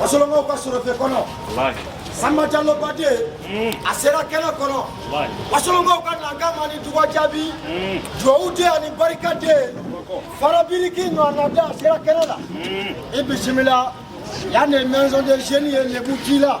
wasolonkaw ka sɔrɔfɛ kɔnɔ sanba jalo bade a sera kɛnɛ kɔnɔ wasolonkaw ka nankama ni duga jaabi duwawu den ani barika den farabiriki ɲɔgɔnna da a sera kɛnɛ la i bisimila yan de maison de jeunes ye lebu k'i la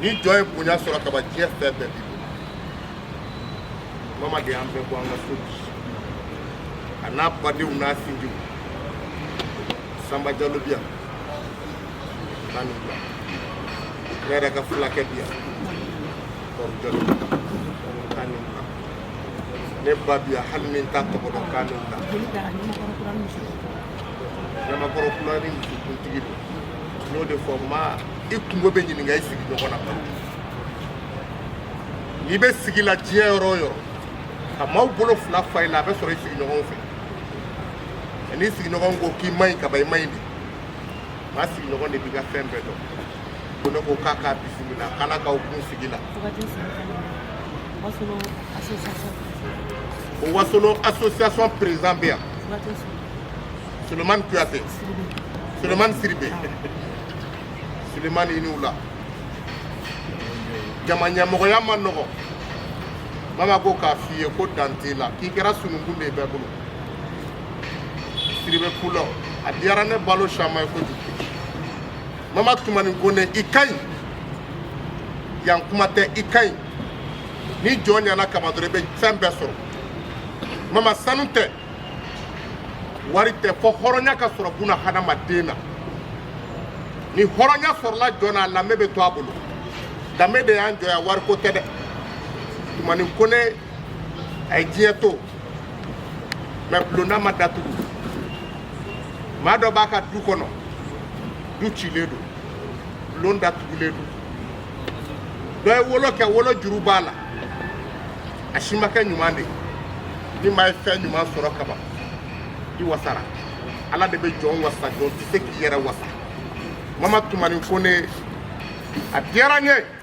ni jɔn ye bonya sɔrɔ kaban diɲɛ fɛn bɛɛ b'i bolo mama de y'an bɛɛ bɔ an ka so bi a n'a badenw n'a sinjiw sanba jalo bi yan k'a ni wula ne yɛrɛ ka fulakɛ bi yan ne ba bi yan hali ni n t'a tɔgɔ dɔn kan nin ta ɲamakɔrɔ kura ni musokuntigi don n y'o de fɔ ma i kunko bɛ ɲininka i sigiɲɔgɔn na balo n'i bɛ sigi la diɲɛ yɔrɔ o yɔrɔ ka maaw bolo fila fa i la a bɛ sɔrɔ i sigiɲɔgɔn fɛ n'i sigiɲɔgɔn ko k'i man ɲi kaban i man ɲi de maa sigiɲɔgɔn de b'i ka fɛn bɛɛ dɔn ko ne ko k'a k'a bisimila k'ala k'aw kun sigi la o wasolo association président bɛ yan sulemani kuyate sulemani siribe sulemani i ni wula jama ɲɛmɔgɔya man nɔgɔ mama ko k'a f'i ye ko dan t'i la k'i kɛra sununkun de ye bɛɛ bolo siribe kulɔ a diyara ne balo caman ye kojugu mama tumani kone i ka ɲi yan kuma tɛ i ka ɲi ni jɔn ɲana kaban dɔrɔn i bɛ fɛn bɛɛ sɔrɔ mama sanu tɛ wari tɛ fɔ hɔrɔnya ka sɔrɔ buna hadamaden na ni hɔrɔnya sɔrɔla jɔn na a danbe bɛ to a bolo danbe de y'an jɔya wariko tɛ dɛ tumani kone a ye diɲɛ to mɛ bulonda ma datugu maa dɔ b'a ka du kɔnɔ du cilen don bulon datugulen don dɔ ye wolo kɛ wolo juru b'a la a si ma kɛ ɲuman de ye ni maa ye fɛn ɲuman sɔrɔ kaban i wasara ala de bɛ jɔn wasa jɔn tɛ se k'i yɛrɛ wasa mama tumani kone a diyara n ye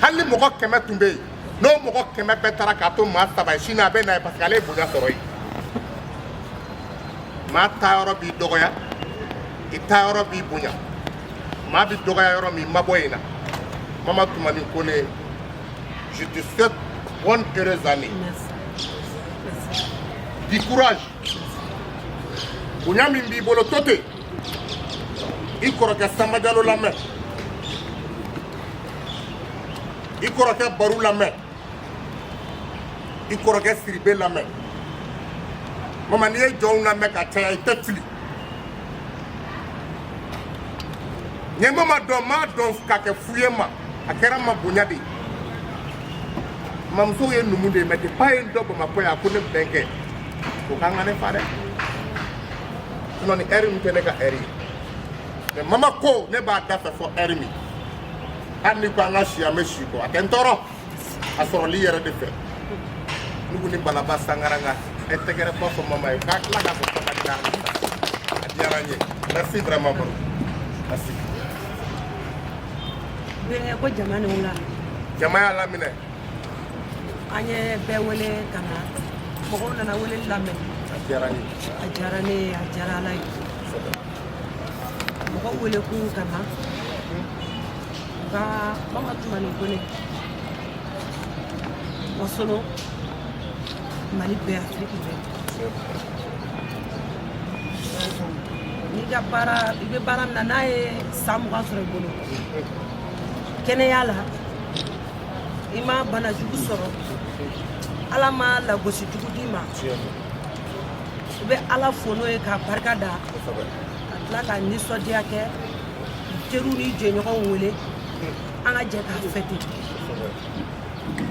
hali ni mɔgɔ kɛmɛ tun bɛ yen n'o mɔgɔ kɛmɛ bɛɛ taara k'a to maa saba ye sini a bɛ na ye parce que ale ye bonya sɔrɔ yen maa taa yɔrɔ b'i dɔgɔya i taa yɔrɔ b'i bonya maa bɛ dɔgɔya yɔrɔ min mabɔ yen na mama tumani kone je te souhaite bonne heureuse année du courage bonya min b'i bolo to ten i kɔrɔkɛ sanba jalo lamɛn i kɔrɔkɛ baru lamɛn i kɔrɔkɛ siribe lamɛn mama n'i ye jɔnw lamɛn ka caya i tɛ fili ɲɛmɔ ma dɔn m'a dɔn k'a kɛ fu ye ma a kɛra ma bonya de ye mamuso ye numu de ye mais depa ye n dɔ bamakɔ yan ko ne bɛnkɛ o k'an ka ne fa dɛ ni ɛri min tɛ ne ka ɛri ye mais mama ko ne b'a da fɛ fo ɛri min hali ni ko an ka si an bɛ si ko a tɛ n tɔɔrɔ a sɔrɔli yɛrɛ de fɛ ne ko ni balaba sangare an ka ɛ tɛgɛrɛba fɔ mama ye ka tila k'a fɔ k'a ka diya a diyara n ye merci vraiment baru merci. ko jama ni wula. jama y'a laminɛ. an ye bɛɛ wele ka na mɔgɔw nana wele lamɛn a diyara ne ye a diyara ala ye mɔgɔw wele kun ka na u ka mama tumani kone wasolo mali bɛɛ afiriki bɛɛ n'i ka baara i bɛ baara min na n'a ye san mugan sɔrɔ i bolo kɛnɛya la i ma bana jugu sɔrɔ ala ma lagosi jugu d'i ma i bɛ ala fo n'o ye k'a barika da ka tila ka nisɔndiya kɛ teriw ni jɛɲɔgɔnw wele an ka jɛ k'a fɛte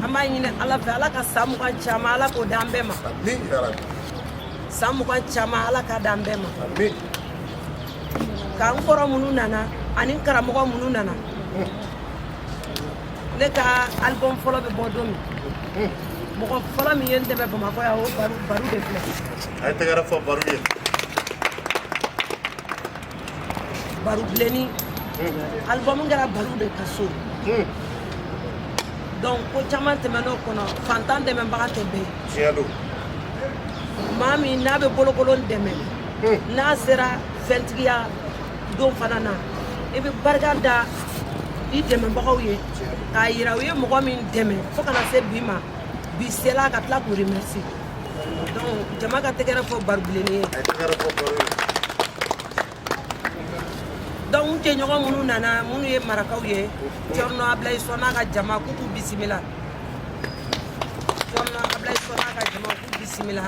an b'a ɲini ala fɛ ala ka san mugan caman ala k'o d'an bɛɛ ma san mugan caman ala ka d'an bɛɛ ma k'an kɔrɔ minnu nana ani karamɔgɔ minnu nana ne ka album fɔlɔ bɛ bɔ don min mɔgɔ fɔlɔ min ye n dɛmɛ bamakɔ yan o baru de filɛ a ye tɛgɛrɛ fɔ baru ye baru bilenni album kɛra baru de ka so donc ko caman tɛmɛn'o kɔnɔ fantan dɛmɛbaga tɛ bɛɛ tiɲɛ don maa min n'a bɛ bolokolon dɛmɛ n'a sera fɛntigiya don fana na i bɛ barika da i dɛmɛbagaw ye k'a yira u ye mɔgɔ min dɛmɛ fo ka na se bi ma bi sela ka tila k'u remercier donc jama ka tɛgɛrɛ fɔ baru bilenni ye donc n jɛɲɔgɔn minnu nana minnu ye marakaw ye cɔrɔnɔ ablayi sɔ n'a ka jama k'u k'u bisimila cɔrɔnɔ ablayi sɔ n'a ka jama k'u bisimila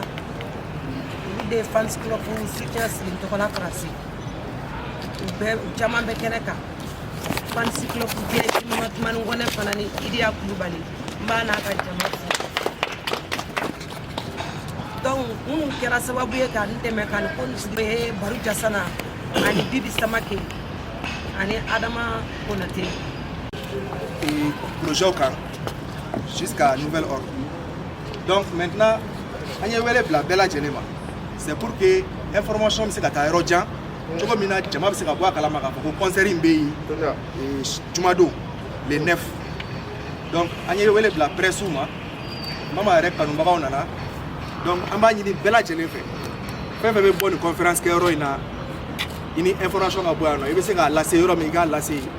olu de ye fans club soutien sigi n tɔgɔ la faransi u bɛɛ u caman bɛ kɛnɛ kan fans club de tumani kɔnɛ fana ni idiya kulubali n b'a n'a ka jama fo donc minnu kɛra sababu ye ka n dɛmɛ ka n conseiller baru jasana ani bibi samake ani adama konate projet kan jusqu'à nouvel ordre donc maintenant an ye wele bila bɛɛ lajɛlen ma C'est pour que information bɛ se ka taa yɔrɔ jan cogo min na jama bɛ se ka bɔ a kalama k'a fɔ ko concert in bɛ yen jumadon le 9 donc an ye wele bila presse ma mama yɛrɛ kanubagaw nana donc an b'a ɲini bɛɛ lajɛlen fɛ fɛn fɛn bɛ bɔ nin conférence kɛyɔrɔ in na i ni information ka bɔ yan nɔ i bɛ se k'a lase yɔrɔ min i k'a lase yen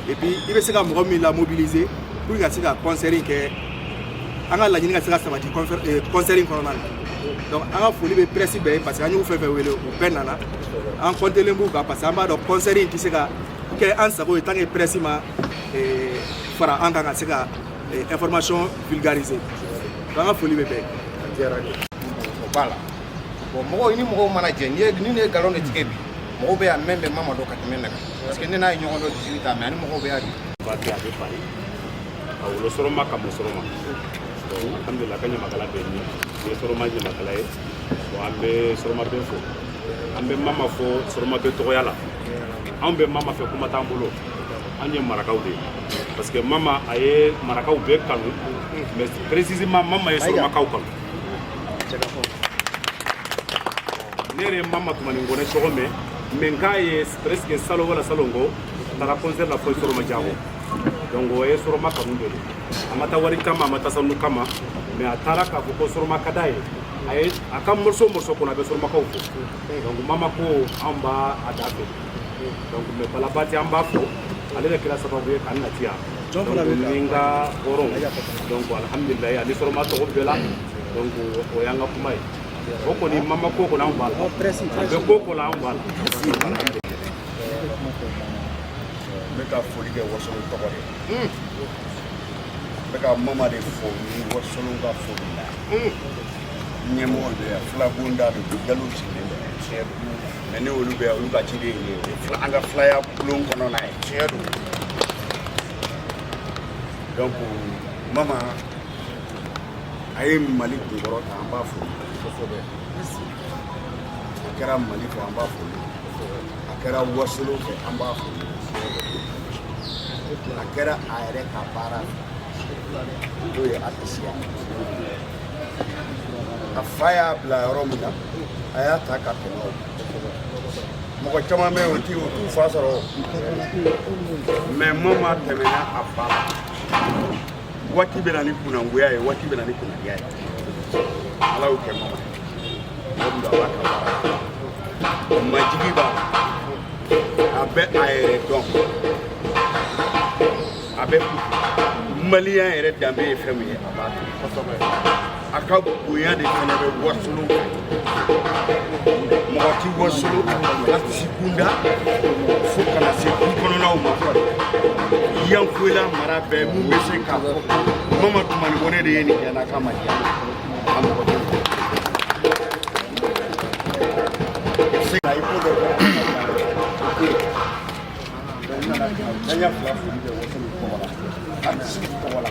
et puis i bɛ se ka mɔgɔ min lamobiliser pour que ka se ka concert in kɛ an ka laɲini ka se ka sabati euh, concert in kɔnɔna na donc an ka foli bɛ presse bɛɛ ye parce que an y'u fɛn fɛn wele u bɛɛ nana an comptelen b'u kan parce que an b'a dɔn concert in tɛ se ka kɛ an sago ye tant que presse ma euh, fara an kan ka se ka euh, information vulgariser donc an ka foli bɛ bɛɛ ye. o b'a la bon mɔgɔw i ni mɔgɔw mana jɛ n'i ye ni ne ye nkalon de tigɛ bi mɔgɔw bɛ yan min bɛ mama dɔn ka tɛmɛ ne kan. parce que ne n'a ye ɲɔgɔn dɔn jisiri ta mais ani mɔgɔw bɛ y'a di ba kɛ a bɛ fari a wolo sɔrɔma ka mɔ sɔrɔma alhamdulila ka ɲamakala bɛ ne ye sɔrɔma ɲamakala ye bon an bɛ sɔrɔma bɛɛ fo an bɛ mama fo sɔrɔma bɛɛ tɔgɔya la anw bɛ mama fɛ kuma t'an bolo an ye marakaw de ye parce que mama a ye marakaw bɛɛ kanu mais précisément mama ye sɔrɔmakaw kanu ne yɛrɛ ye mama tumani kɔnɛ cogo min mɛ n k'a ye presque salon wala salon kɔ taara concert la fo sɔrɔma jakɔn donc o ye sɔrɔma kanu de don a ma taa wari kama a ma taa sanu kama mais a taara k'a fɔ ko sɔrɔma ka d'a ye a ye a ka morceau morceau kɔnɔ a bɛ sɔrɔmakaw fo donc mama ko anw b'a a da fɛ donc mais bala bati an b'a fo ale de kɛra sababu ye k'an nati yan donc ni n ka hɔrɔnw donc alhamdulilayi ani sɔrɔma tɔgɔ bɛɛ la donc o y'an ka kuma ye o kɔni mama ko kɔni anw b'a la a bɛ ko o ko la anw b'a la n bɛ ka foli kɛ wasolon tɔgɔ de n bɛ ka mama de fo ni wasolon ka foli la ɲɛmɔgɔ bɛ yan filakunda de don jalow sigilen bɛ tiɲɛ don mais ne olu bɛ yan olu ka ciden ye ne an ka filaya bulon kɔnɔna ye tiɲɛ don donc mama a ye mali kunkɔrɔta an b'a fo kosɛbɛ a kɛra mali fɛ an b'a fo a kɛra wasolo fɛ an b'a fo a kɛra a yɛrɛ ka baara n'o ye atisiya a fa y'a bila yɔrɔ min na a y'a ta ka tɛmɛ o mɔgɔ caman bɛ yen o ti o t'u fa sɔrɔ mɛ mama tɛmɛna a fa la waati bɛ na ni kunangoya ye waati bɛ na ni kunangoya ye ala y'o kɛ mama mɔgɔ don a b'a ka baara majigi b'a la a bɛ a yɛrɛ dɔn a bɛ maliyɛn yɛrɛ danbe ye fɛn min ye a b'a dɔn kosɛbɛ a ka bonya de fana bɛ wasolo mɔgɔ ti wasolo atisi kunda fo kana se du kɔnɔnaw ma yanfoyila mara bɛɛ mun bɛ se k'a fɔ mama tumani kɔnɛ de ye nin kɛ n'a ka ma diya a mɔgɔ tɛ se ka i ko dɔ kɛ n'an y'a fila foli kɛ wasolo tɔgɔ la atisi tɔgɔ la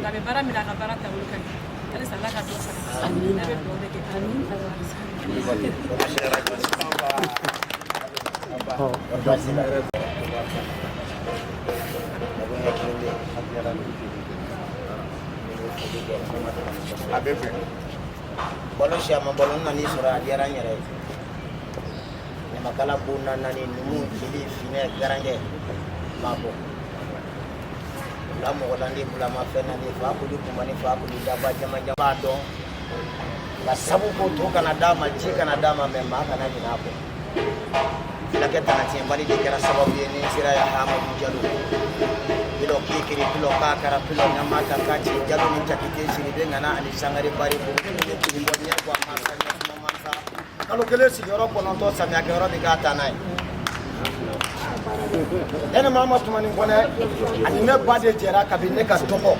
Nka bɛ baara min na a ka baara taabolo ka ɲi halisa ala ka dɔ fara a bɛ fɛ balo si a ma balo na n'i sɔrɔ a diyara n yɛrɛ ye ɲamakala bonda naani numu jeli finɛ garankɛ m'a bɔ la mɔgɔ la ni bulama fɛn na fakoli kunba ni fakoli daba jama jama dɔn nka sabu ko to kana d'a ma ji kana d'a ma mɛ maa kana ɲin'a kɔ fulakɛ tanatiɲɛbali de kɛra sababu ye n sera yan hamadu jalo pilɔ kikiri pilɔ kakara pilɔ ɲama ta k'a ci jalo ni jakite siribe ŋana ani sangare bari bolo ni ne tun bɔ ɲɛ bɔ a ma ka ɲɛ kuma ma ka kalo kelen sigiyɔrɔ kɔnɔntɔn samiya kɛyɔrɔ de k'a taa n'a ye ne ni mama tumani kɔnɛ ani ne ba de jɛra kabini ne ka dɔgɔ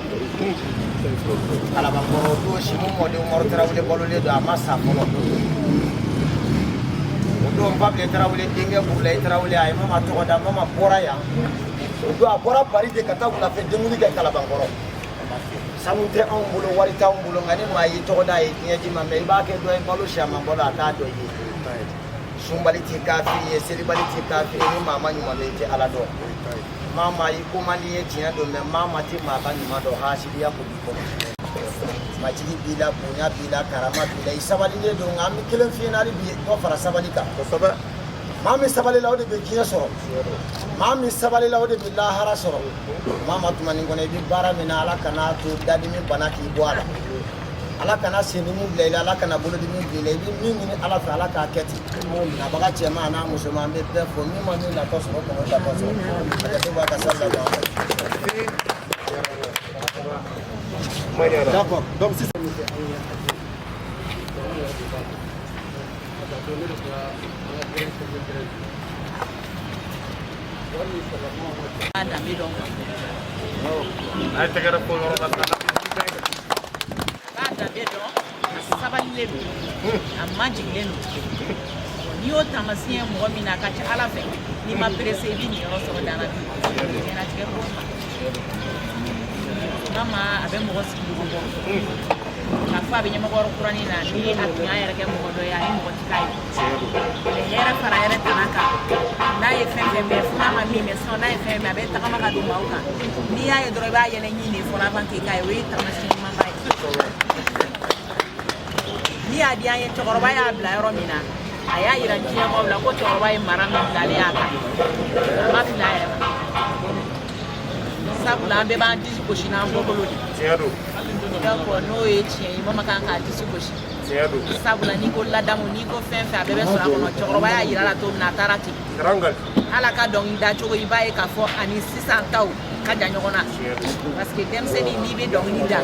kalabankɔrɔ o don simu mɔden umaru tarawele balolen don a ma sa fɔlɔ o don babile tarawele denkɛ burulayi tarawele a ye mama tɔgɔ da mama bɔra yan o don a bɔra bari de ka taa wulafɛ denkundi kɛ kalabankɔrɔ sanu tɛ anw bolo wari t'anw bolo nka ni maa y'i tɔgɔ da a ye diɲɛ d'i ma mɛ i b'a kɛ dɔ ye balo si a ma balo a t'a dɔ ye sunbali ti kafiri ye selibali ti kafiri ni maa ma ɲuman dɔn i tɛ ala dɔn mama i ko man di ye tiɲɛ don mɛ mama tɛ maa ka ɲuman dɔn hasidiya ko b'i kɔnɔ majigi b'i la bonya b'i la karama b'i la i sabalilen don nka an bɛ kelen f'i ɲɛna hali bi dɔ fara sabali kan kosɛbɛ maa min sabalila o de bɛ diɲɛ sɔrɔ maa min sabalila o de bɛ lahara sɔrɔ Mama Tumani Kɔnɛ i bɛ baara min na ala kana to dadimi bana k'i bɔ a la ala kana sen dimi bila i la ala kana bolo dimi bila i bɛ min ɲini ala fɛ ala k'a kɛ ten nabaga cɛman n'a musoman an bɛ bɛɛ fo min ma min nafa sɔrɔ kɔnɔ da ka sa la ay tɛgɛrɛ ko yɔrɔ la a b'a danbe dɔn a sabalilen don a majigilen don n'i y'o taamasiyɛn mɔgɔ min na a ka ca ala fɛ n'i ma pressé i b'i niyɔrɔ sɔrɔ dana bi ɲɛnatigɛ ko Mama a bɛ mɔgɔ sigi dugu bɔ k'a fɔ a bɛ Ɲamakɔrɔ Kurani na ni a tun y'a yɛrɛ kɛ mɔgɔ dɔ ye a ye mɔgɔ ti k'a ye hɛrɛ fara hɛrɛ tana kan n'a ye fɛn fɛn bɛɛ fo n'a ma min mɛn sinon n'a ye fɛn bɛɛ a bɛ tagama ka don maaw kan n'i y'a ye dɔrɔn i b'a yɛlɛ ɲin de fɔlɔ avant k'i k'a ye o ye taamasiyɛn ɲumanba ye ani a di an ye cɛkɔrɔba y'a bila yɔrɔ min na a y'a yira diɲɛmɔgɔw la ko cɛkɔrɔba ye mara min bilalen y'a kan a ma fili a yɛrɛ ma sabula an bɛɛ b'an disi gosi n'an bɔkolo de donc n'o ye tiɲɛ ye Mama kan k'a disi gosi sabula n'i ko ladamu n'i ko fɛn fɛn a bɛɛ bɛ sɔrɔ a kɔnɔ cɛkɔrɔba y'a yira a la cogo min na a taara ten hali a ka dɔnkili da cogo i b'a ye k'a fɔ a ni sisan taw ka jan ɲɔgɔn na parce que denmisɛnnin n'i bɛ dɔnkili da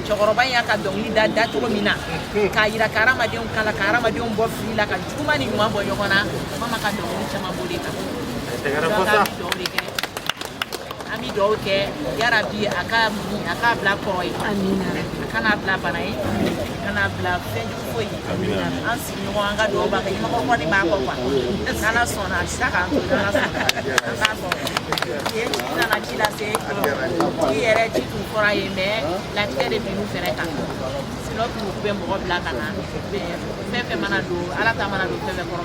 cɛkɔrɔba in y'a ka dɔnkili da da cogo min na k'a yira ka hadamadenw kalan ka hadamadenw bɔ fili la ka juguman ni ɲuman bɔ ɲɔgɔn na Mama ka dɔnkili caman b'o de kan dɔnkili dɔw de kɛ An bɛ dugawu kɛ yarabi a ka muɲun, a k'a bila kɔrɔ ye, amina, a kana bila bana ye, amina, a kana bila fɛn jugu foyi ye, amina, an sigiɲɔgɔn an ka dugawu b'a kɔ, ɲɛmɔgɔ kɔni b'a kɔ quoi, n' Ala sɔnna a bɛ tila k'an to ni Ala sɔnna, an b'a fɔ yen tigi nana ci lase, tigi yɛrɛ ci tun fɔra a ye mais latigɛ de binna u fana kan sinon u tun bɛ mɔgɔ bila ka na fɛn o fɛn mana don Ala ta mana don fɛn o fɛn kɔrɔ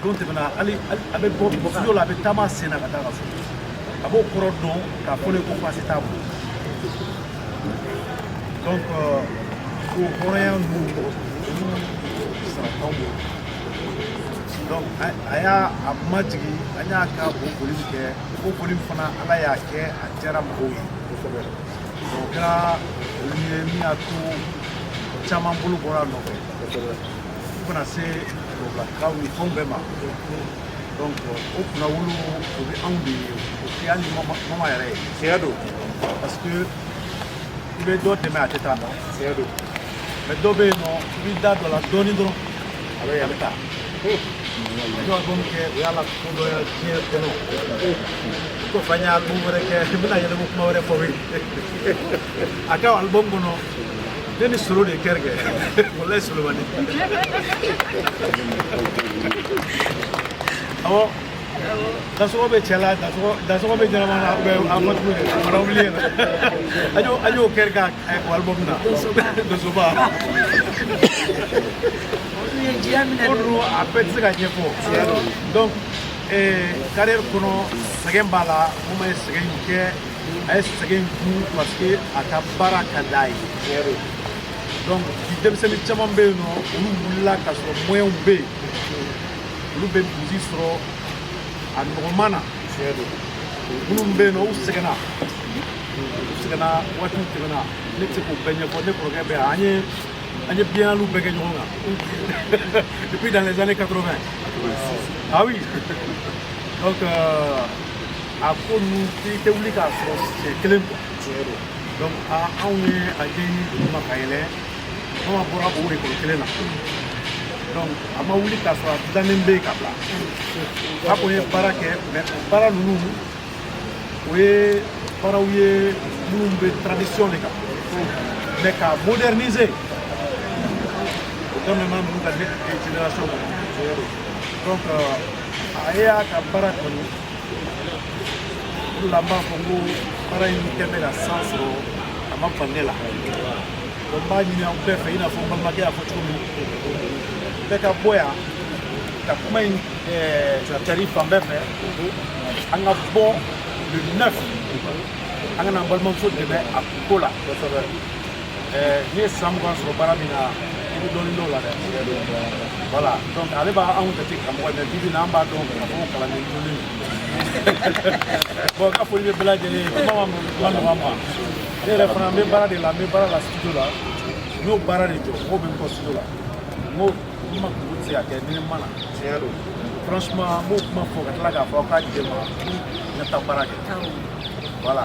don tɛmɛna hali a bɛ bɔ studio la a bɛ taama sen na ka taa ka so a b'o kɔrɔ dɔn k'a fɔ ne ko baasi t'a bolo donc o hɔrɔnya ninnu olu sara t'anw bolo donc a y'a majigin an y'a ka o foli min kɛ o foli min fana ala y'a kɛ a diyara mɔgɔw ye kosɛbɛ o kɛra olu ye min y'a to caman bolo bɔra a nɔfɛ fo ka na se Ka kan ni fɛnw bɛɛ ma o kunnawolo o bɛ anw de ye o tɛ hali mama yɛrɛ ye tiɲɛ don parce que i bɛ dɔ dɛmɛ a tɛ taa tiɲɛ don mais dɔ bɛ yen nɔ i b'i da don a la dɔɔnin dɔrɔn a bɛ a bɛ taa anw ye album kɛ o y'a la ko dɔ diɲɛ kɔnɔ ko f'an ye album wɛrɛ kɛ n bɛna yɛlɛma kuma wɛrɛ fɔ ye a ka album kɔnɔ Ne ni solo de kɛrɛ kɛ walayi solomani awɔ dansɔgɔ bɛ cɛ la dansɔgɔ bɛ ɲɛnama na bɛ a ma tugu de fana wuli yɛrɛ an y'o an y'o kɛrɛ ka album na donsoba o dun a bɛɛ tɛ se ka ɲɛfɔ donc carrière kɔnɔ sɛgɛn b'a la mama ye sɛgɛn in kɛ a ye sɛgɛn kun parce que a ka baara ka d'a ye donc bi denmisɛnnin caman bɛ yen nɔ olu wulila k'a sɔrɔ moyens bɛ yen olu bɛ burusi sɔrɔ a nɔgɔman na minnu bɛ yen nɔ u sɛgɛnna u sɛgɛnna waatiw tɛmɛna ne tɛ se k'o bɛɛ ɲɛfɔ ne kɔrɔkɛ bɛ yan an ye an ye biennalew bɛɛ kɛ ɲɔgɔn kan depuis dans les années 80 ah oui donc euh, a ko ninnu i tɛ wuli k'a sɔrɔ siɲɛ kelen quoi tiɲɛ don donc anw ye a ɲɛɲini duguma ka yɛlɛ mama bɔra o ekɔli kelen na donc a ma wuli k'a sɔrɔ a dilannen bɛ yen ka bila a ko n ye baara kɛ mais o baara ninnu o ye baaraw ye minnu bɛ tradition de kan mais k'a moderniser o daminɛna ninnu ka ne génération kɔnɔ donc a ye a ka baara kanu la n b'a fɔ n ko baara in kɛ bɛ ka san sɔrɔ a ma bala ne la donc n b'a ɲini aw bɛɛ fɛ i n'a fɔ n balimakɛ y'a fɔ cogo min bɛɛ ka bɔ yan ka kuma in cari fan bɛɛ fɛ an ka bɔ le neuf an ka na an balimamuso dɛmɛ a ko la n'i ye san mugan sɔrɔ baara min na i bɛ dɔɔnin dɔn a la dɛ voilà donc ale b'anw jate karamɔgɔ mais bi bi in na an b'a dɔn k'a fɔ kalanden jolen don n ka foli bɛ bɛɛ lajɛlen ye kuma man nɔgɔ n ma ne yɛrɛ fana n bɛ baara de la n bɛ baara la studio la n y'o baara de jɔ mɔgɔw bɛ n kɔ studio la n ko mama kunko tɛ se ka kɛ ni ne ma na tiɲɛ don franchement n b'o kuma fɔ ka tila k'a fɔ aw ka diɲɛ n ma n ka taa baara kɛ voilà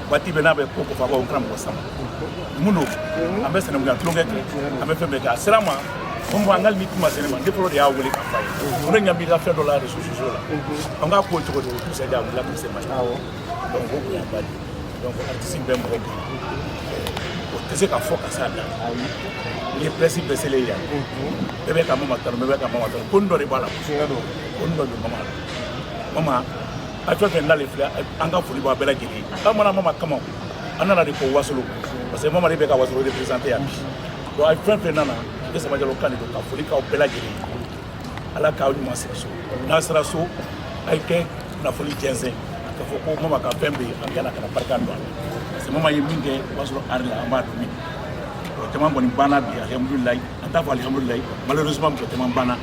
waati bɛɛ n'a bɛ ko ko fɔ n kana mɔgɔ sama mun don an bɛ senankuya tulonkɛ kɛ an bɛ fɛn bɛɛ kɛ a sera ma ko mɔgɔ an ka ni kuma sɛnɛ ma ne fɔlɔ de y'a wele k'a f'a ye ko ne ɲɛ b'i ka fɛn dɔ la réseaux sociaux la an k'a ko cogo cogo tout ça a wulila ka se ma donc o kun y'a ba de donc artiste bɛ mɔgɔ kun o tɛ se ka fɔ ka s'a dan ni presse bɛɛ selen yan bɛɛ bɛ ka mama tanu bɛɛ bɛ ka mama tanu kun dɔ de b'a la kun dɔ de mama mama a fɛn o fɛn nalen filɛ an ka foli b'a bɛɛ lajɛlen an ma na mama kama an nana de ko wasolo parce que mama de bɛ ka wasolo représenter yan donc a fɛn o fɛn nana ne samba jalo kan de don ka foli k'aw bɛɛ lajɛlen ala k'aw ɲuman segin so n'a sera so a ye kɛ kunnafoni jɛnsɛn k'a fɔ ko mama ka fɛn bɛ yen an ka na ka na barika don a la parce que mama ye min kɛ wasolo art la an b'a dɔn min o caman kɔni banna bi alihamudulilayi an t'a fɔ alihamudulilayi malheureusement mɔgɔ caman banna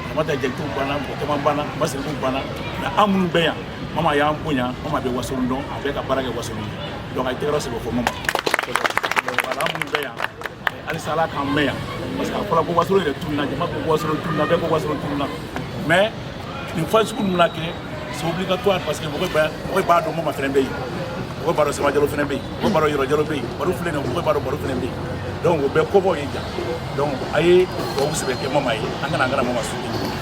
ramata jakite banna mɔgɔ caman banna masiriku banna mais an minnu bɛ yan mama y'an bonya mama bɛ wasolo dɔn a bɛ ka baara kɛ wasolo ye donc a ye tɛgɛrɛ sɛbɛ fɔ mama voilà an minnu bɛ yan halisa ala k'an mɛɛn yan parce que a fɔra ko wasolo yɛrɛ tununna jama ko wasolo tununna bɛɛ ko wasolo tununna mais nin fɛn sugu ninnu na kɛ c'est obligatoire parce que mɔgɔ b'a mɔgɔ b'a dɔn mama fɛnɛ bɛ yen mɔgɔ b'a dɔn samba jalo fɛnɛ bɛ yen mɔgɔ b'a dɔn yoro jalo bɛ yen baro filɛ nin ye mɔgɔ b'a dɔn baro fɛnɛ bɛ yen donc o bɛɛ kɔbɔw ye ja donc a ye dubabu sɛbɛ kɛ mama ye an kana an kana mama su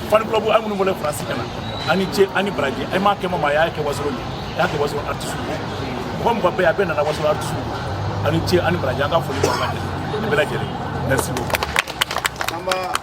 fan club a minnu bɔlen faransi ka na a ni ce a ni baraji a m'a kɛ mama a y'a kɛ wasolo de a y'a kɛ wasolo artiste mɔgɔ mɔgɔ bɛɛ a bɛɛ nana wasolo artiste a ni ce a ni baraji an ka foli b'aw ka dɛ bɛɛ lajɛlen merci beaucoup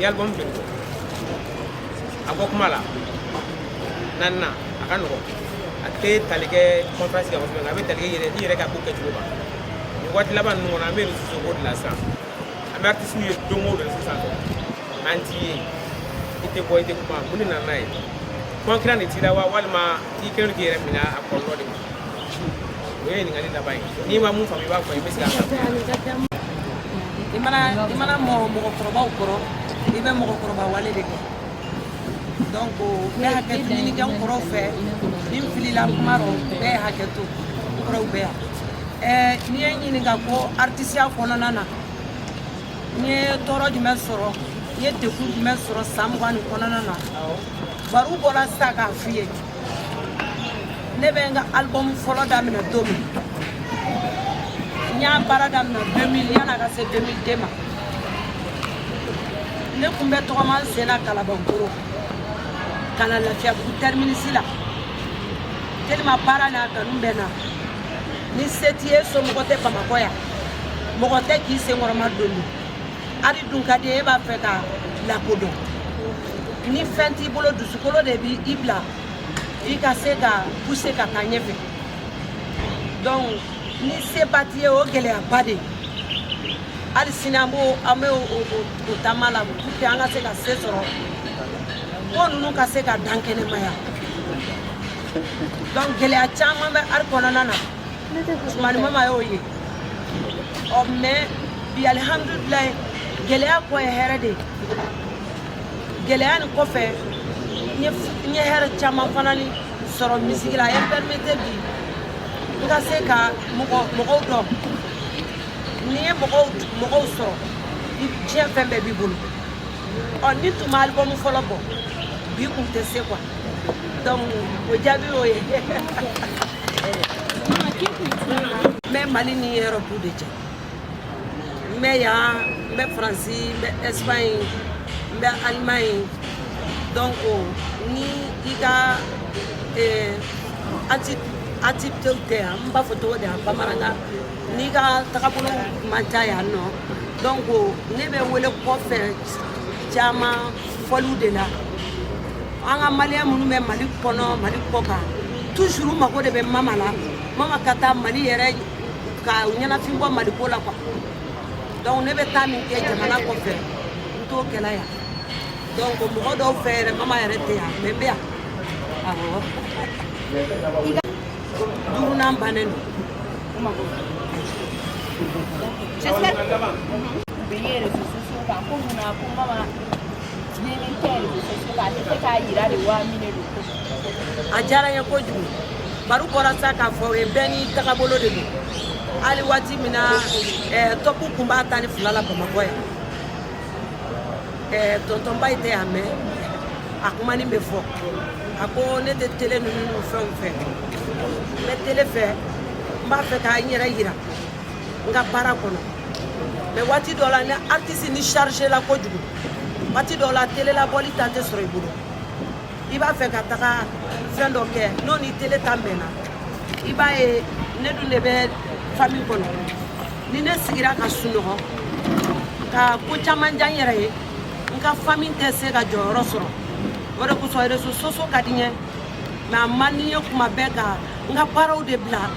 i album joli a bɔ kuma la naaninan a ka nɔgɔn a tɛ tali kɛ conférence kan kosɛbɛ nka a bɛ tali kɛ yɛrɛ i yɛrɛ ka ko kɛcogo kan nin waati laban ninnu kɔnɔ an bɛ réseaux ko de la sisan an bɛ artistes ye don o don sisan an t'i ye i tɛ bɔ i tɛ kuma mun de nana n'a ye concurrent de t'i la wa walima i kɛlen don k'i yɛrɛ minɛ a kɔlɔlɔ de ma o ye ɲininkali laban ye n'i ma mun faamu i b'a fɔ i bɛ se i mana i mana mɔ mɔgɔkɔrɔbaw kɔrɔ i bɛ mɔgɔkɔrɔba wale de kɛ donc n bɛ hakɛto ɲini kɛ n kɔrɔw fɛ ni n filila kuma rɔ bɛɛ ye hakɛ to n kɔrɔw bɛ yan ɛɛ n'i ye n ɲininka ko artisiya kɔnɔna na n ye tɔɔrɔ jumɛn sɔrɔ n ye degun jumɛn sɔrɔ san mugan nin kɔnɔna na baro bɔra sisan k'a f'i ye ne bɛ n ka album fɔlɔ daminɛ don min n y'a baara daminɛ 2000 yanni a ka se 2002 ma ne kun bɛ tɔgɔma n sen na kalabankoro ka na lafiyabugu terminus la tellement baara n'a kanu bɛ n na ni se t'i ye somɔgɔ tɛ bamakɔ yan mɔgɔ tɛ k'i senkɔrɔmadon Ari dun ka di e b'a fɛ ka lakodɔn ni fɛn t'i bolo dusukolo de b'i bila i ka se ka puse ka taa ɲɛfɛ donc ni seba t'i ye o gɛlɛyaba de hali sini an b'o an bɛ o taama la pour que an ka se ka se sɔrɔ ko ninnu ka se ka dankɛnɛmaya donc gɛlɛya caman bɛ ari kɔnɔna na Usumani mama y'o ye ɔ mɛ bi alihamdulilayi gɛlɛya kɔ ye hɛrɛ de ye gɛlɛya nin kɔfɛ n ye hɛrɛ caman fana ni sɔrɔ misiki la a ye n pɛrimete bi n ka se ka mɔgɔw dɔn n'i ye mɔgɔw sɔrɔ diɲɛ fɛn bɛɛ b'i bolo ɔ ni tun ma alibɔmu fɔlɔ bɔ bi kun tɛ se kuwa donc o jaabi y'o ye n bɛ mali ni erɔpu de cɛ n bɛ yan n bɛ faransi n bɛ ɛsipaɲi n bɛ alimaɲi donc ni i ka eh, activitéw tɛ yan n b'a fɔ cogo di yan bamanankan n'i ka tagabolo man ca yan nɔ donc ne bɛ wele kɔfɛ caman fɔliw de la an ka maliyɛn minnu bɛ mali kɔnɔ mali kɔkan tuzuru mago de bɛ mama la mama ka taa mali yɛrɛ k'u ɲɛnafin bɔ mali ko la kuwa donc ne bɛ taa min kɛ jamana kɔfɛ n t'o kɛla yan donc mɔgɔ dɔw fɛ yɛrɛ mama yɛrɛ tɛ yan mɛ n bɛ yan awɔ a diyara n ye kojugu baro bɔra sa k'a fɔ o ye bɛɛ n'i tagabolo de don hali waati min na tɔpu kun b'a tan ni fila la bamakɔ yan eh, tontonba ye tɛ y'a mɛn a kuma nin bɛ fɔ a ko ne tɛ tele ninnu fɛnw fɛ n bɛ tele fɛ n b'a fɛ ka n yɛrɛ yira n ka baara kɔnɔ mɛ waati dɔ la ni artisi ni chargéla kojugu waati dɔ la tele la bɔli tan tɛ sɔrɔ i bolo i b'a fɛ ka taga fɛn dɔ kɛ n'o ni tele tan bɛnna i b'a ye ne dun de bɛ fami kɔnɔ ni ne sigira ka sunɔgɔ ka ko caman diya n yɛrɛ ye n ka fami tɛ se ka jɔyɔrɔ sɔrɔ o de kosɔn rezo soso ka di n ye mɛ a man di n ye kuma bɛɛ ka n ka baaraw de bila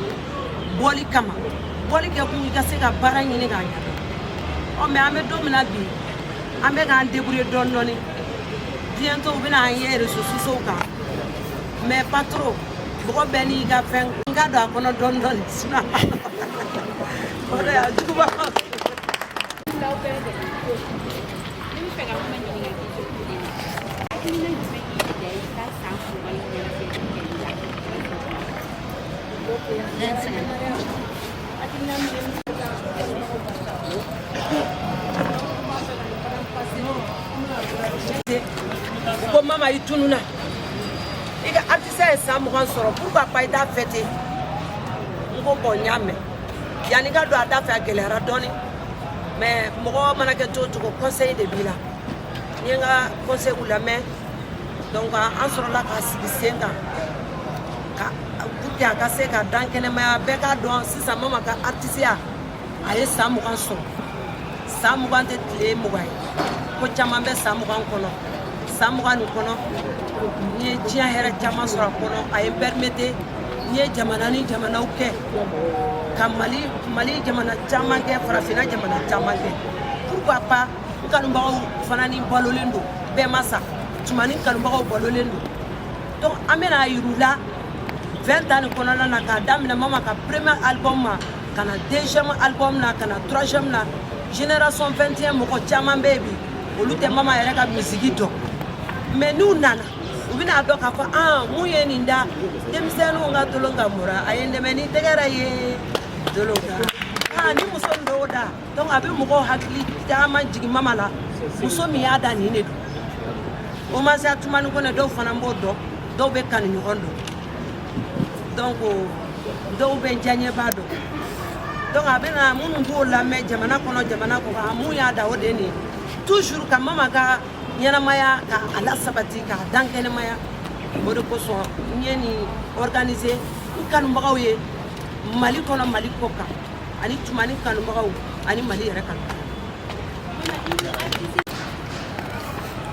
bɔli kama bɔli kɛ kun i ka se ka baara ɲini k'a ɲɛ ɔ mɛ an bɛ don min na bi an bɛ k'an debrouiller dɔɔni dɔɔni bientôt u bɛna n ye réseaux sociaux kan mais pas trop mɔgɔ bɛɛ n'i ka fɛn n ka don a kɔnɔ dɔɔni dɔɔni sinon o de y'a juguba ko mama i tununa i ka artisiya ye san mugan sɔrɔ pourquoi pas i t'a fêter n ko bon n y'a mɛn yanni ka don a da fɛ a gɛlɛyara dɔɔni mais mɔgɔ mana kɛ cogo cogo conseil de b'i la n ye n ka conseilw lamɛn donc an sɔrɔla k'a sigi sen kan ka pour que a ka se k'a dankɛnɛmaya bɛɛ k'a dɔn sisan mama ka artisiya a ye san mugan sɔrɔ san mugan tɛ tile mugan ye ko caman bɛ san mugan kɔnɔ san mugan nin kɔnɔ n ye diɲɛ hɛrɛ caman sɔrɔ a kɔnɔ a ye n permettre n ye jamana ni jamanaw kɛ ka mali mali jamana caman kɛ farafinna jamana caman kɛ pourquoi pas n kanubagaw fana ni balolen don bɛɛ ma sa tumani kanubagaw balolen don donc an bɛna a yira u la 20 ans nin kɔnɔna na k'a daminɛ mama ka premier album ma ka na deuxième album na ka na troisième na génération 21 mɔgɔ caman bɛ yen bi olu tɛ mama yɛrɛ ka musique dɔn mais n'u nana u bɛna a dɔn k'a fɔ min ye nin da denmisɛnninw ka tolon ka mura a ye n dɛmɛ ni tɛgɛrɛ ye tolon kan ni muso nin dɔw da donc a bɛ mɔgɔw hakili caman jigin mama la muso min y'a da nin de don o ma sa tumani kɔnɛ dɔw fana b'o dɔn dɔw bɛ kanu ɲɔgɔn dɔn donc dɔw bɛ diyaɲɛba dɔn donc a bɛna minnu b'o lamɛn jamana kɔnɔ jamana kɔkan min y'a da o de ye nin ye toujours ka mama ka ɲɛnamaya ka a lasabati k'a dankɛnɛmaya o de kosɔn n ye nin organiser n kanubagaw ye mali kɔnɔ mali kɔkan ani tumani kanubagaw ani mali yɛrɛ kanu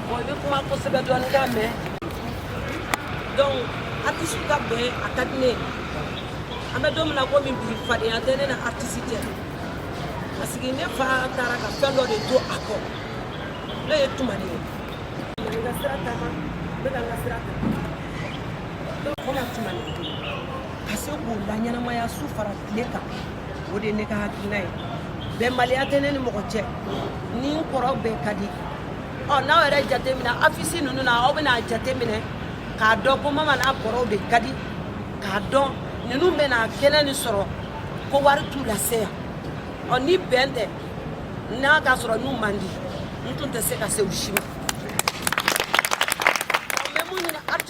bon i bɛ kuma kosɛbɛ dɔɔni k'a mɛn donc artiste ka bɛn a ka di ne ye an bɛ don min na komi bi fadenya tɛ ne n'artiste cɛ parce que ne fa taara ka fɛn dɔ de to a kɔ ne ye tumani ye n ka sira taama n bɛ ka n ka sira ta donc n bɛna tumani ka se k'o laɲɛnamaya su fara tile kan o de ye ne ka hakilina ye bɛnbaliya tɛ ne ni mɔgɔ cɛ ni n kɔrɔw bɛɛ ka di ɔ n'aw yɛrɛ jateminɛ afisi ninnu na aw bɛna jateminɛ k'a dɔn ko mama n'a kɔrɔw de ka di k'a dɔn ninnu bɛna kɛnɛ nin sɔrɔ ko wari t'u lase yan ɔ ni bɛn tɛ n'a ka sɔrɔ n'u man di n tun tɛ se ka se u si ma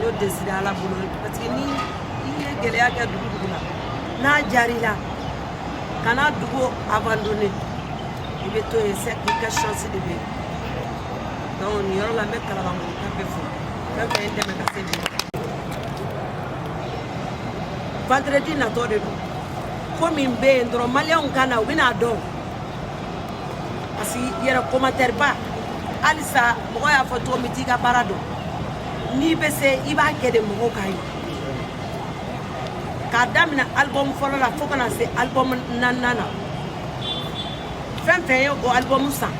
Yo décidé ala bolo parce que ni i ye gɛlɛya kɛ dugu dugu la n'a diyara i la kana dugu abandonné i bɛ to yen c'est que i ka chance de bɛ yen donc nin yɔrɔ la n bɛ kalabankaw bɛɛ fo fɛn fɛn ye dɛmɛ ka se bi vendredi natɔ de don ko min bɛ yen dɔrɔn maliyɛnw ka na u bɛna a dɔn parce que yɛrɛ commentaire ba halisa mɔgɔ y'a fɔ cogo min t'i ka baara dɔn n'i bɛ se i b'a kɛ de mɔgɔw k'a ye k'a daminɛ album fɔlɔ la fo ka na se album naaninan na fɛn fɛn ye o album san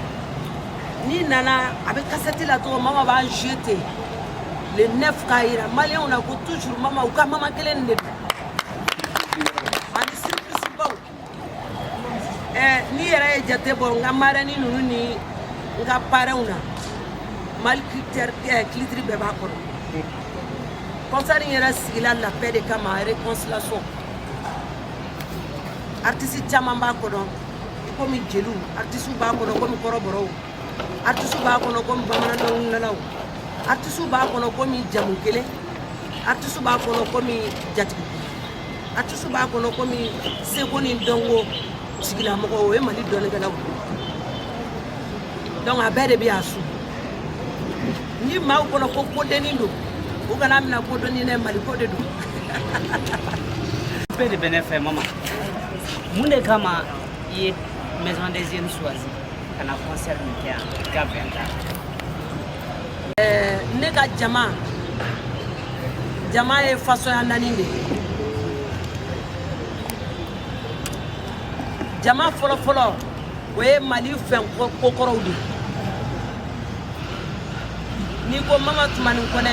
n'i nana a bɛ kasɛti la cogo mama b'a jouer ten le neuf k'a yira maliyɛnw na ko toujours mama u ka mama kelen nin de don ani surprise baw ɛɛ n'i yɛrɛ ye jate bɔ n ka marɛni ninnu ni n ka parɛnw na mali kilitɛri ɛɛ kilitiri bɛɛ b'a kɔnɔ kɔnsɛri in yɛrɛ sigila lapɛ de kama réconciliation artiste caman b'a kɔnɔ komi jeliw artisiw b'a kɔnɔ komi kɔrɔbɔrɔw artisiw b'a kɔnɔ komi bamanan dɔnkilidalaw artisiw b'a kɔnɔ komi jamu kelen artisiw b'a kɔnɔ komi jatigi artisiw b'a kɔnɔ komi seko ni dɔnko sigilamɔgɔ o ye mali dɔnnikɛlaw donc a bɛɛ de bɛ a su nin maaw kɔnɔ ko ko dennin don u kana a mina ko dennin dɛ mali ko de don bɛɛ de bɛ ne fɛ mama Mun de kama i ye maison des jeunes choisi ka na concert nin kɛ yan i ka vingt ans ne ka jama jama ye façon naani de ye jama fɔlɔfɔlɔ o ye mali fɛn kokɔrɔw de n'i ko mama tumani kɔnɛ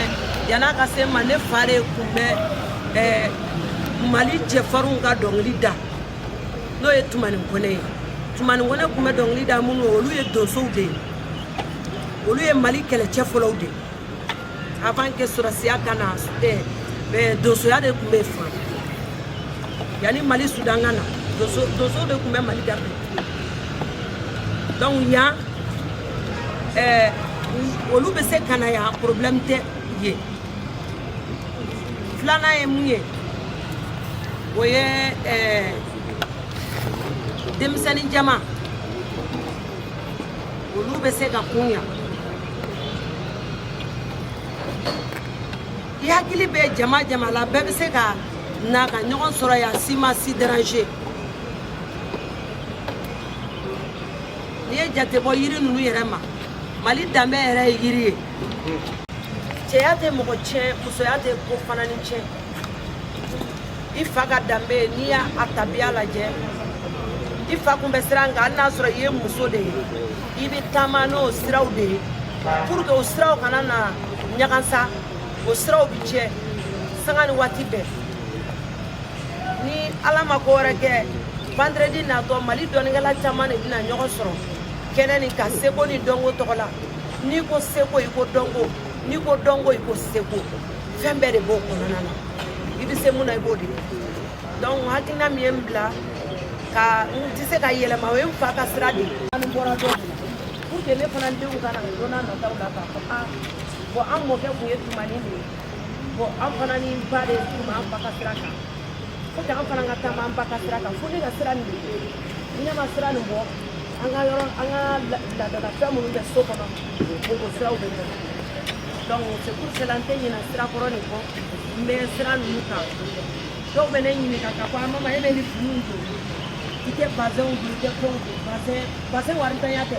yan'a ka se n ma ne fa de kun bɛ eh, mali cɛfarinw ka dɔnkili da n'o ye tumani kɔnɛ ye tumani kɔnɛ kun bɛ dɔnkili da minnu olu ye donsow de ye olu ye mali kɛlɛcɛ fɔlɔw de ye avant que sɔrɔsiya ka na eh, eh, donsoya de kun bɛ fan yanni mali sudan ka na donso donso de kun bɛ mali garde donc yan eh, olu bɛ se ka na yan problème tɛ ye filanan ye mun ye o ye eh, denmisɛnnin jama olu bɛ se ka kun yan i hakili bɛ jama jama la bɛɛ bɛ se ka na ka ɲɔgɔn sɔrɔ yan si ma si déranger n'i ye jate bɔ yiri ninnu yɛrɛ ma mali danbe yɛrɛ ye yiri ye cɛya tɛ mɔgɔ tiɲɛ musoya tɛ ko fana ni tiɲɛ i fa ka danbe n'i y'a tabiya lajɛ i fa kun bɛ sira min kan hali n'a sɔrɔ i ye muso de ye i bɛ taama n'o siraw de ye pour que o siraw kana na ɲagansa o siraw bi tiɲɛ sanga ni waati bɛɛ ni ala ma ko wɛrɛ kɛ vendredi natɔ mali dɔnnikɛla caman de bɛna ɲɔgɔn sɔrɔ kɛnɛ nin kan seko ni dɔnko tɔgɔ la n'i ko seko i ko dɔnko n'i ko dɔnko i ko seko fɛn bɛɛ de b'o kɔnɔna na i bɛ se mun na i b'o di donc hakilina min ye n bila ka n tɛ se ka yɛlɛma o ye n fa ka sira de ye n bɔra dɔ de la pour que ne fana denw ka na don nataw la k'a fɔ ah bon an mɔkɛ tun ye tumani de ye bon an fana ni n ba de tun b'an ba ka sira kan faut que an fana ka taama an ba ka sira kan fo ne ka sira nin de ye ni ne ma sira nin bɔ an ka yɔrɔ an ka laadalafɛn minnu bɛ so kɔnɔ o o siraw bɛ bin donc c'est pour cela n tɛ ɲinɛ sira kɔrɔ nin kɔ n bɛ sira ninnu kan dɔw bɛ ne ɲininka k'a fɔ a mama e bɛ nin finiw don i tɛ bazɛnw don i tɛ fɛnw don bazɛn bazɛn warintanya tɛ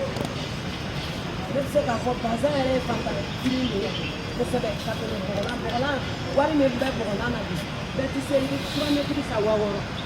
ne bɛ se k'a fɔ bazɛn yɛrɛ ye faantan fini de ye kosɛbɛ ka tɛmɛ bɔgɔlan bɔgɔlan wari min bɛ bɔgɔlan na bi bɛɛ tɛ se i bɛ trois mètres san waa wɔɔrɔ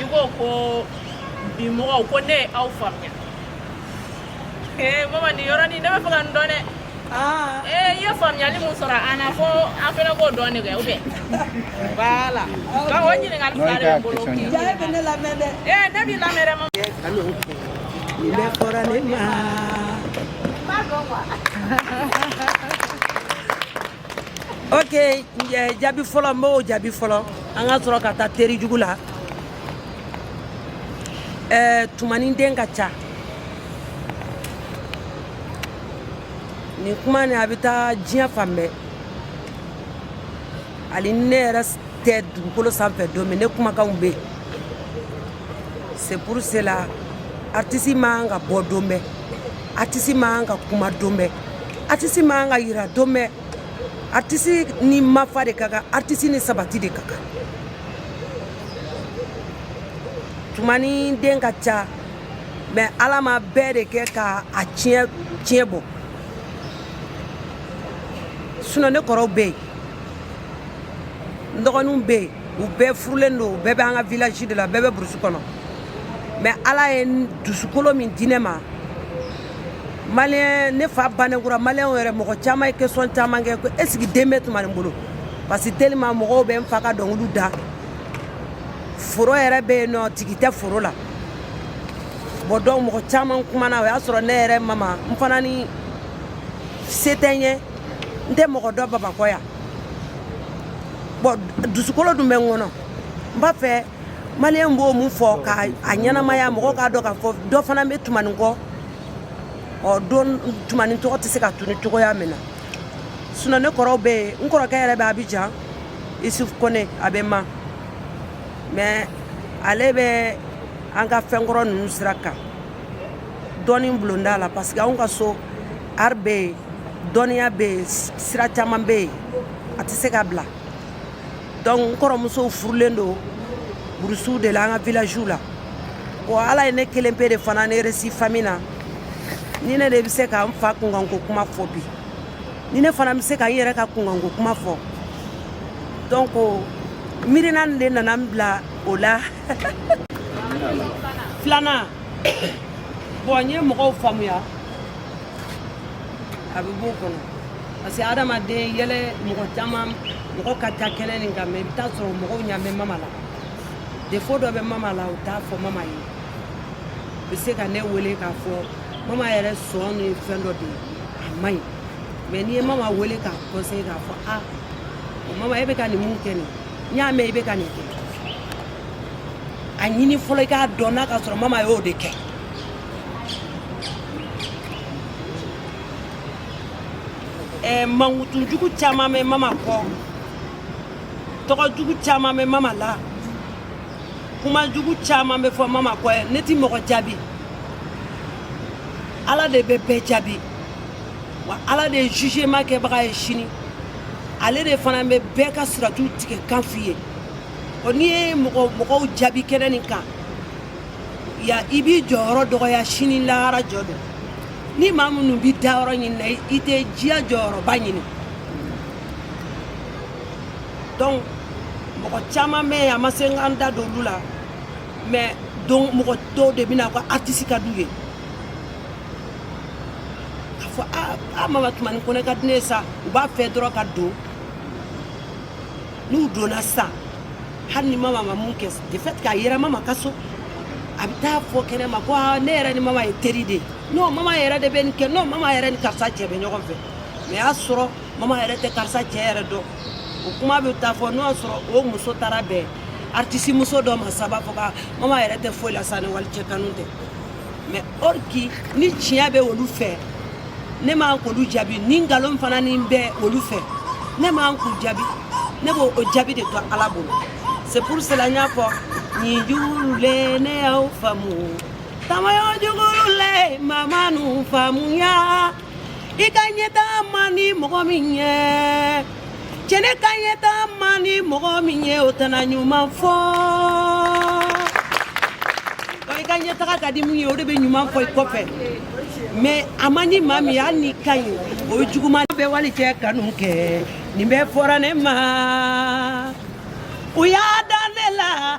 i ko ko bi mɔgɔw ko ne ye aw faamuya ee mama nin yɔrɔnin ne bɛ fɛ ka nin dɔn dɛ ee i ye faamuyali mun sɔrɔ an na fo an fana k'o dɔn de kɛ ou bien voilà donc o ɲininkali fila de bɛ n bolo k'i jaabi e bɛ ne lamɛn dɛ. ee ne b'i lamɛn dɛ mama Nin bɛɛ fɔra ne ma. ok jaabi fɔlɔ n b'o jaabi fɔlɔ an ka sɔrɔ ka taa teri jugu la ɛɛ tumani den ka ca nin kuma nin a bɛ taa diɲɛ fan bɛɛ hali ne yɛrɛ tɛ dugukolo sanfɛ don min ne kumakanw bɛ yen c'est pour cela artiste man kan ka bɔ don bɛɛ artiste man kan ka kuma don bɛɛ artiste man kan ka yira don bɛɛ artiste ni mafa de ka kan artiste ni sabati de ka kan tumani den ka ca mais ala ma bɛɛ de kɛ ka a tiɲɛ bɔ sinon ne kɔrɔw bɛ yen n dɔgɔninw bɛ yen u bɛɛ furulen don u bɛɛ bɛ an ka village de la bɛɛ bɛ burusi kɔnɔ mais ala ye dusukolo min di ne ma maliyɛn ne fa bannen kura maliyɛnw yɛrɛ mɔgɔ caman ye question caman kɛ ko est-ce que den bɛ tumani bolo parce que tellement mɔgɔw bɛ n fa ka dɔnkiliw da foro yɛrɛ bɛ yen nɔ tigi tɛ foro la bon donc mɔgɔ caman kumana o y'a sɔrɔ ne yɛrɛ mama n fana ni se tɛ n ye n tɛ mɔgɔ dɔn Bamakɔ yan bon dusukolo dun bɛ n kɔnɔ n b'a fɛ maliyɛn b'o min fɔ ka a ɲɛnamaya mɔgɔ k'a dɔn k'a fɔ dɔ fana bɛ tumani kɔ donc tumani tɔgɔ tɛ se ka tunun cogoya min na sinon ne kɔrɔw bɛ yen n kɔrɔkɛ yɛrɛ bɛ Abidjan Isuf Kone a bɛ ma mais ale bɛ an ka fɛnkɔrɔ ninnu sira kan dɔnni bulonda la parce que anw ka so art bɛ yen dɔnniya bɛ yen sira caman bɛ yen a tɛ se ka bila donc n kɔrɔmusow furulen don burusiw de la an ka villagew la bon ala ye ne kelen pe de fana ne resi famille na ni ne de bɛ se ka n fa kunkanko kuma fɔ bi ni ne fana bɛ se ka n yɛrɛ ka kunkanko kuma fɔ donc miirina de nana n bila o la filanan bon n ye mɔgɔw faamuya a bɛ b'o kɔnɔ parce que adamaden yɛlɛ mɔgɔ caman mɔgɔ ka ca kɛnɛ nin kan mais i bɛ taa sɔrɔ mɔgɔw ɲa bɛ mama la défaut dɔ bɛ mama la u t'a fɔ mama ye u bɛ se ka ne wele k'a fɔ mama yɛrɛ sɔn ni fɛn dɔ de ye a man ɲi mais n'i ye mama wele k'a conseiller k'a fɔ a mama e bɛ ka nin min kɛ nin n y'a mɛn i bɛ ka nin kɛ a ɲini fɔlɔ i k'a dɔn n'a ka sɔrɔ mama y'o de kɛ Eh, mankutujugu caman bɛ mama kɔ tɔgɔ jugu caman bɛ mama la kuma jugu caman bɛ fɔ mama kɔ ne ti mɔgɔ jaabi ala de bɛ bɛɛ jaabi wa ala de ye jugement kɛbaga ye sini ale de fana bɛ bɛɛ ka siratu tigɛ kan f'i ye n'i ye mɔgɔw jaabi kɛnɛ nin kan ya i b'i jɔyɔrɔ dɔgɔya sini lahara jɔ don ni maa minnu bɛ dayɔrɔ ɲini na i tɛ diya jɔyɔrɔba ɲini donc mɔgɔ caman bɛ yen a ma se n ka n da don olu la mais don mɔgɔ dɔw de bɛ na ko artiste ka d'u ye k'a fɔ a a mama tumani kɔnɛ ka di ne ye sa u b'a fɛ dɔrɔn ka don n'u donna sisan hali ni mama ma mun kɛ de fait k'a yera mama ka so a bɛ taa fɔ kɛnɛ ma ko aa ne yɛrɛ ni mama ye teri de ye non mama yɛrɛ de bɛ nin kɛ non mama yɛrɛ ni karisa cɛ bɛ ɲɔgɔn fɛ mais y'a sɔrɔ mama yɛrɛ tɛ karisa cɛ yɛrɛ dɔn o kuma bɛ taa fɔ n'o y'a sɔrɔ o muso taara bɛn artiste muso dɔ ma sa b'a fɔ ka mama yɛrɛ tɛ foyi la sa ni walicɛ kanu tɛ mais or que ni tiɲɛ bɛ olu fɛ ne man k'olu jaabi ni nkalon fana ni bɛ olu fɛ ne man k'u jaabi ne b'o o jaabi de to ala bolo c'est pour cela n y'a fɔ nin jugu le ne y'aw faamu tamayo jugu le mama n'u faamuya i ka ɲɛtaa man di mɔgɔ min ye cɛ n'i ka ɲɛtaa man di mɔgɔ min ye o tɛna ɲuman fɔ i ka ɲɛtaga ka di min ye o de bɛ ɲuman fɔ i kɔfɛ mais a man di maa min ye hali n'i ka ɲi o ye juguman bɛ walicɛ kanu kɛ nin bɛɛ fɔra ne ma u y'a da ne la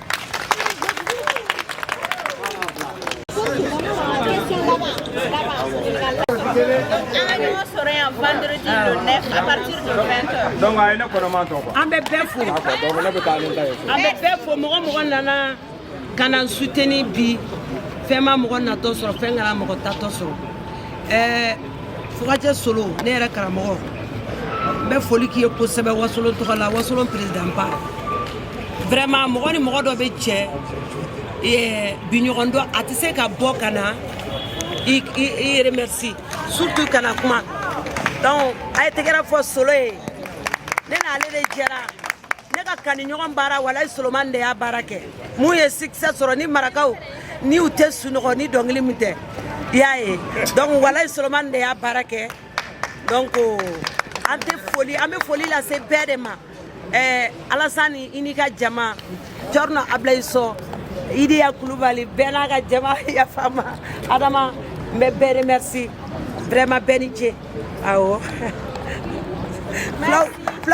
donc a ye ne kɔnɔma tɔ quoi an bɛ bɛɛ fo donc ne bɛ taa ni ta ye an bɛ bɛɛ fo mɔgɔ mɔgɔ nana ka na suteni bi fɛn ma mɔgɔ natɔ sɔrɔ fɛn kana mɔgɔ taatɔ sɔrɔ ɛɛ fugacɛ solo ne yɛrɛ karamɔgɔ n bɛ foli k'i ye kosɛbɛ wasolon tɔgɔ la wasolon perezidanba vraiment mɔgɔ ni mɔgɔ dɔ bɛ cɛ eh, bi ɲɔgɔn don a tɛ se ka bɔ ka na i i remercie surtout ka na kuma donc a ye tɛgɛrɛ fɔ solo ye ne n'ale de jɛra ne ka kaniɲɔgɔn baara walayi solomani de y'a baara kɛ min ye succès sɔrɔ ni marakaw ni u tɛ sunɔgɔ ni dɔnkili min tɛ i y'a ye donc walayi solomani de y'a baara kɛ donc an tɛ foli an bɛ foli lase bɛɛ de ma ɛɛ alasani i n'i ka jama cɛrinɔ abilayi so idiya kulubali bɛɛ n'a ka jama yafa n ma adama n bɛ bɛɛ remercie vraiment bɛɛ ni ce awɔ fulaw fulaw